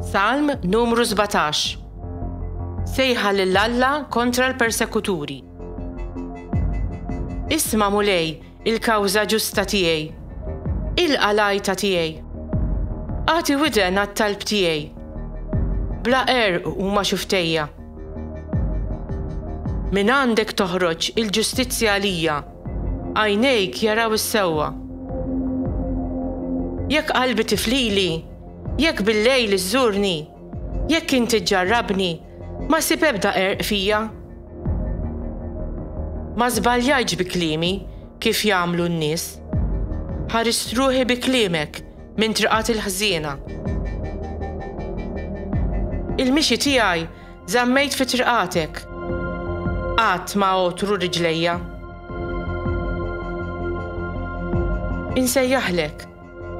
Salm numru 17 Sejħa lil Alla kontra l-persekuturi. Isma' Mulej il-kawża ġusta tiegħi. Ilqa' l-għajta tiegħi. Agħti widen għat-talb tiegħi. Bla qerq huma xuftejja. Mingħandek toħroġ il-ġustizzja għalija. Għajnejk jaraw is-sewwa. Jekk qalbi tiflili, jekk bil-lejl iżżurni, jekk inti ġġarrabni, ma ssib ebda qerq fija. Ma żbaljajtx bi kliemi kif jagħmlu n-nies. Ħarist ruħi bi kliemek minn triqat il-ħżiena. Il-mixi tiegħi Żammejt fi triqatek. Qatt ma għotru riġlejja. Insejjaħlek,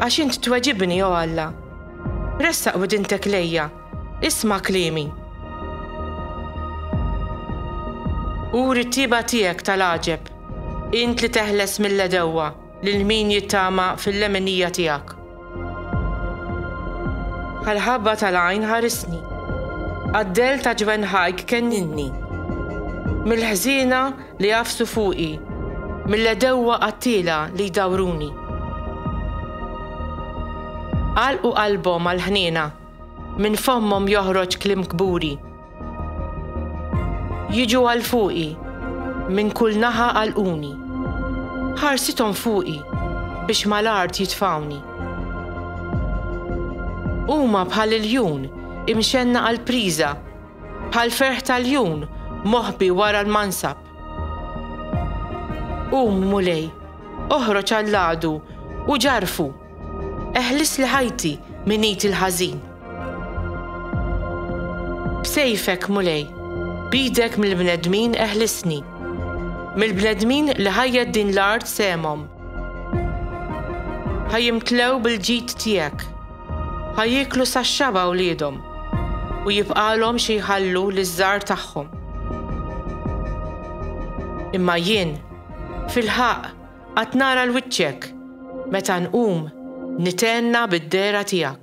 għax int tweġibni, o Alla. Ressaq widintek lejja, isma' kliemi. Uri t-tjieba tiegħek tal-għaġeb, int li teħles mill-għedewwa. Lil min jittama fil-leminija tiegħek. Bħall-ħabba tal-għajn ħarisni. Għad-dell ta' ġwenħajk kennilni. Mill-ħżiena li għafsu fuqi, mill-għedewwa qattiela li jdawruni. Għalqu qalbhom għall-ħniena. Minn fommhom joħroġ kliem kburi. Jiġu għal fuqi, minn kull naħa għalquni. Ħarsithom fuqi, biex mal-art jitfgħuni. Huma bħal iljun, imxenna għall-priża, bħal ferħ ta' ljun, moħbi wara l-mansab. Qum, Mulej, oħroġ għall-għadu, u ġarrfu! Eħlisli ħajti minn id il-ħażin. B'sejfek, Mulej, b'idek mill-bnedmin eħlisni, mill-bnedmin li ħajjet din l-art sehemhom. Ħa jimtlew bil-ġid tiegħek, ħa jieklu sax-xaba wliedhom, u jibqagħlhom xi jħallu liż-żgħar tagħhom. Imma jien, fil-ħaqq, Qatt nara 'l wiċċek meta nqum nithenna bid-dehra tiegħek.